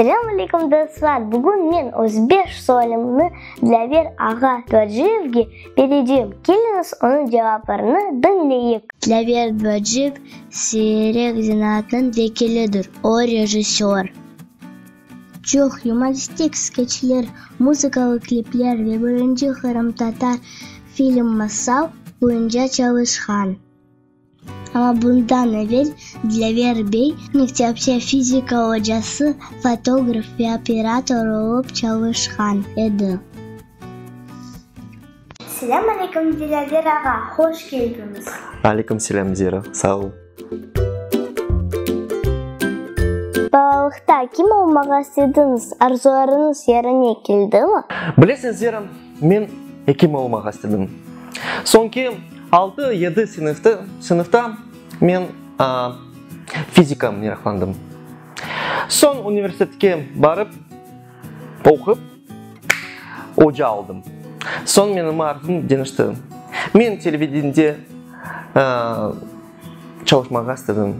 Selâm aleykum dostlar! Bugün men öz beş sualimni Dilâver ağa Dvaciyevge berecem. Keliñiz, onıñ cevaplarını diñleyik. Dilâver Dvaciyev siyrek zenaatnıñ vekilidir. O, rejissör. Çoq yumoristik skeçler, muzıkalı klipler ve birinci qırımtatar film Masal boyunca çalışqan. Amma bundan evel Dilâver bey mektepte fizika ocası, fotograf ve operator olıp çalışqan edi. Selâm aleyküm, Dilâver ağa! Hoş keldiñiz! Aleyküm selâm, Zira! Sağ ol! Balalıqta kim olmağa istediñiz? Arzularıñız yerine keldimi? Bilesiñ, Zira, Men ekim olmağa istedim. Soñki altı, yedi sınıftı, sınıfta men fizika meraqlandım. Soñ universitetke barıp, oqup, oca oldım. Soñ menim arzum deñişti. Men televideniyede çalışmağa istedim.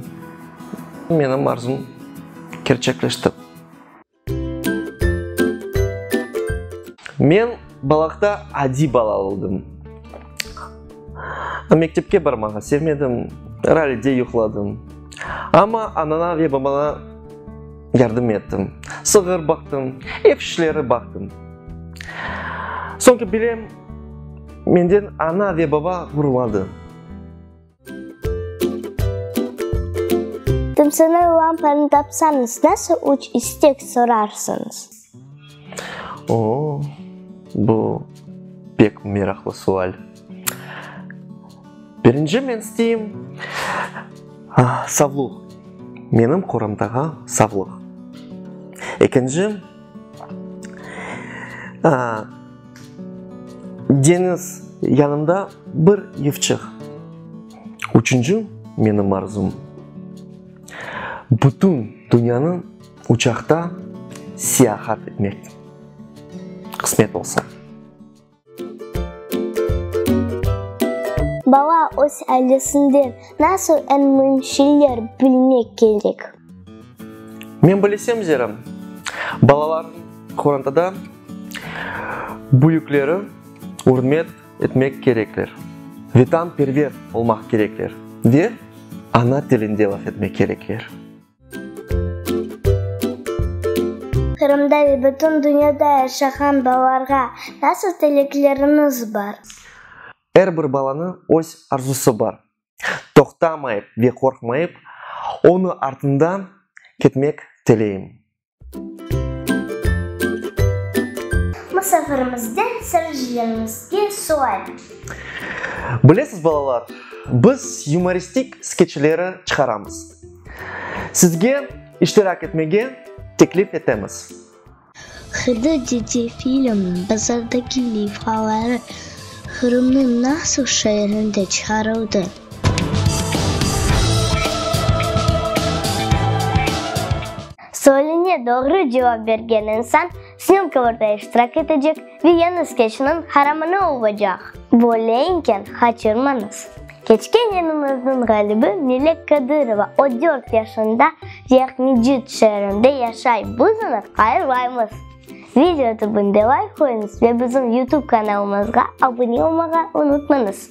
Menim arzum kerçekleşti. Men balaqta adiy bala oldım. Mektepke barmağa sevmedim, ralide yuqladım. Amma anana ve babana yardım ettim. Sığır baqtım, ev işleri baqtım. Soñki bilem, menden ana ve baba ğururladı. Tımsınan lampanı tapsañız, nasıl üç istek sorarsıñız? Oo, bu pek meraqlı sual. Birinci men isteyim, savlıq, menim qoramdağa savlıq. Ekinci, Deñiz, yanımda bir yıfçıq. Üçünci menim arzum, bütün dünyanı uçaqta siyahat etmek, qısmet olsa. Bala öz ailesinden nasıl eñ müim şeyler bilmek kerek? Men bilesem zerem, balalar qorantada büyükleri ürmet etmek kerekler, vetanperver olmaq kerekler ve ana tilinde laf etmek kerekler. Qırımda ve bütün dünyada yaşağan balalarğa nasıl tilekleriniz bar? Er bir balanı öz arzusı bar. toqtamayıp ve qorqmayıp, onı artından ketmek teleyim. Musafirimizden sırıcılarımızge sual. Bilesiz, balalar, biz yumoristik skeçleri çıqaramız. Sizge iştirak etmege teklif etemiz. Hıdı dede filmniñ bazardaki leyfaları Qırımnıñ nasıl şeerinde çıqarıldı? Sualine doğru cevap bergen insan snımkovırda iştirak etecek ve yeni skeçniñ qaramanı olacaq. Böyleinken qaçırmañız! Keçken yenimizniñ ğalibi Melek Kadırova o dört yaşında Ceyhmecit şeerinde yaşay, biz onı qayırmaymız. Video tübünde layk qoyuñız ve bizim YouTube kanalımızğa abune olmağa unutmañız.